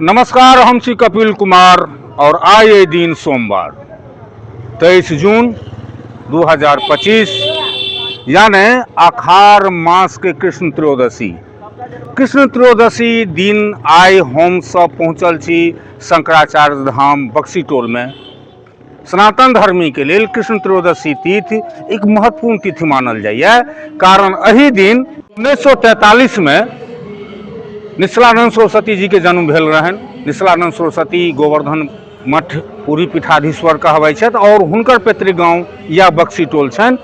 नमस्कार हम छी कपिल कुमार और आय ए दिन सोमवार तेईस जून 2025 यानी अखार मास के कृष्ण त्रयोदशी कृष्ण त्रयोदशी दिन आय हम सब पहुँचल छी शंकराचार्य धाम बक्सी टोल में सनातन धर्मी के लिए कृष्ण त्रयोदशी तिथि एक महत्वपूर्ण तिथि मानल जाइए कारण अही दिन उन्नैस सए तैतालीस मे निश्चलानंद सरस्वती जी के जन्म भेल रहन निश्चलानंद सरस्वती गोवर्धन मठ पूरी पीठाधीश्वर कहबै छथि आओर हुनकर पैतृक गाँव या बक्सी टोल छनि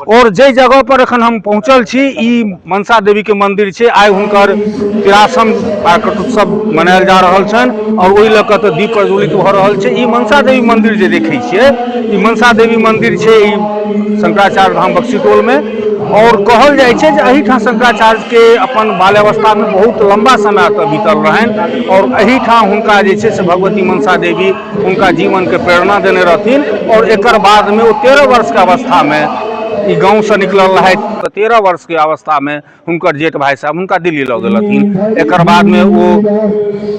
और जे जगह पर एखन हम पहुंचल छी ई मनसा देवी के मंदिर छै आइ हुनकर तिरासम प्रकट उत्सव मनायल जा रहल छनि और ओहि लऽ कऽ तऽ दीप प्रज्वलित भऽ रहल छै ई मनसा देवी मंदिर जे देखै छियै ई मनसा देवी मंदिर छै ई शंकराचार्य धाम बक्सीटोल में और कहल जाइ छै जे एहिठाम शंकराचार्य के अपन बाल्यावस्था में बहुत लंबा समय एतऽ बीतल रहनि और एहिठाम हुनका जे छै से भगवती मनसा देवी हुनका जीवनके प्रेरणा देने रहथिन आओर एकर बादमे ओ तेरह वर्षके अवस्थामे ई गाँवसँ निकलल रहथि तऽ तेरह वर्षके अवस्थामे हुनकर जेठ भाय साहब हुनका दिल्ली लऽ गेलथिन एकर बादमे ओ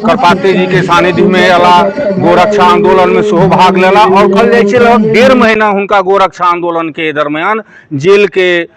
करपाते जीके सानिध्यमे अयला गोरक्षा आन्दोलनमे सेहो भाग लेला आओर कहल जाइ छै लगभग डेढ़ महीना हुनका गोरक्षा आन्दोलनके दरम्यान जेलके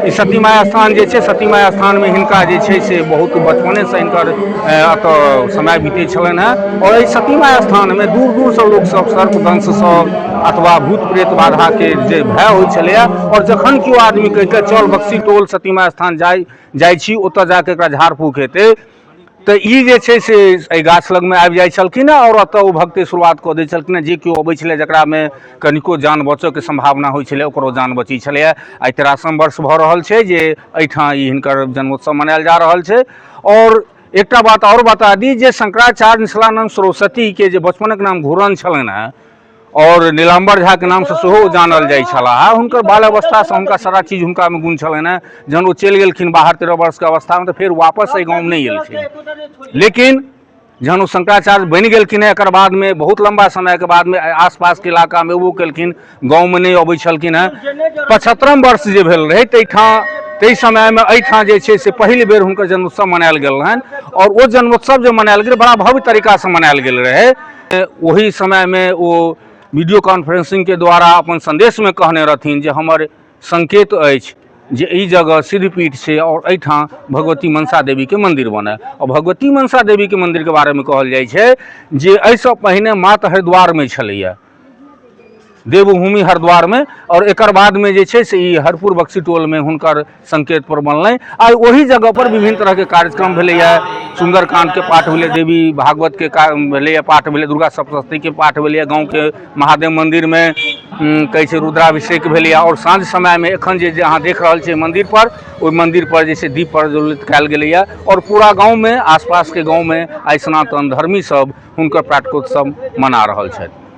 ई सती माय स्थान जे छै सती माय स्थान मे हिनका जे छै से बहुत बचपने से हिनकर एतऽ समय बीतै छलनि हेँ आओर एहि सती माय स्थान मे दूर दूर सँ लोक सब सर्प दंश सँ अथवा भूत प्रेत बाधा के जे भय होइ छलैया आओर जखन केओ आदमी कहि के चल बक्सी टोल सती माय स्थान जाय जाइ छी ओतऽ जाकऽ एकरा झाड़ फूक हेतै तऽ ई जे छै से एहि गाछ लगमे आबि जाइ छलखिन हेँ आओर ओतय ओ भगतै शुरुआत कऽ दै छलखिन हेँ जे केओ अबै छलै जकरामे कनिको जान बचयके सम्भावना होइ छलै ओकरो जान बचै छलैए आइ तेरासम वर्ष भऽ रहल छै जे एहिठाम ई हिनकर जन्मोत्सव मनायल जा रहल छै आओर एकटा बात आओर बता दी जे शंकराचार्य निष्कलानन्द सरस्वतीके जे बचपनक नाम घूरन छलनि हेँ आओर नीलाम्बर झाके नामसँ सेहो ओ जानल जाइ छलाह आ हुनकर बाल अवस्थासँ हुनका सारा चीज हुनकामे गुण छलनि हेँ जहन ओ चलि गेलखिन बाहर तेरह वर्षके अवस्थामे तऽ फेर वापस एहि गाँवमे नहि एलखिन लेकिन जहन ओ शंकराचार्य बनि गेलखिन हेँ एकर बादमे बहुत लम्बा समयके बादमे आसपासके इलाकामे एबो केलखिन गाँवमे नहि अबै छलखिन हेँ पचहत्तरम वर्ष जे भेल रहै ताहिठाम ताहि समयमे एहिठाम जे छै से पहिल बेर हुनकर जन्मोत्सव मनायल गेल रहनि आओर ओ जन्मोत्सव जे मनायल गेल बड़ा भव्य तरीकासँ मनायल गेल रहै ओहि समयमे ओ वीडियो कॉन्फ्रेंसिंगके द्वारा अपन सन्देशमे कहने रहथिन जे हमर संकेत अछि जे ई जगह सिद्धपीठ छै आओर एहिठाम भगवती मनसा देवीके मन्दिर बनय आओर भगवती मनसा देवीके मन्दिरके बारेमे कहल जाइ छै जे एहिसँ पहिने मात हरिद्वारमे छलैए देवभूमि हरिद्वारमे आओर एकर बादमे जे छै से ई हरपुर बक्सी टोलमे हुनकर सङ्केतपर बनलनि आ ओहि जगहपर विभिन्न तरहके कार्यक्रम भेलैए सुन्दरकांडके पाठ भेलै देवी भागवतके का भेलैए पाठ भेलै दुर्गा सप्तशतीके पाठ भेलैए गाँवके महादेव मन्दिरमे कहै छै रुद्राभिषेक भेलैए आओर साँझ समयमे एखन जे अहाँ देख रहल छियै मन्दिरपर ओहि मन्दिरपर जे छै दीप प्रज्वलित कयल गेलैए आओर पूरा गाँवमे आसपासके गाँवमे आइ सनातन धर्मीसभ हुनकर प्राटकोत्सव मना रहल छथि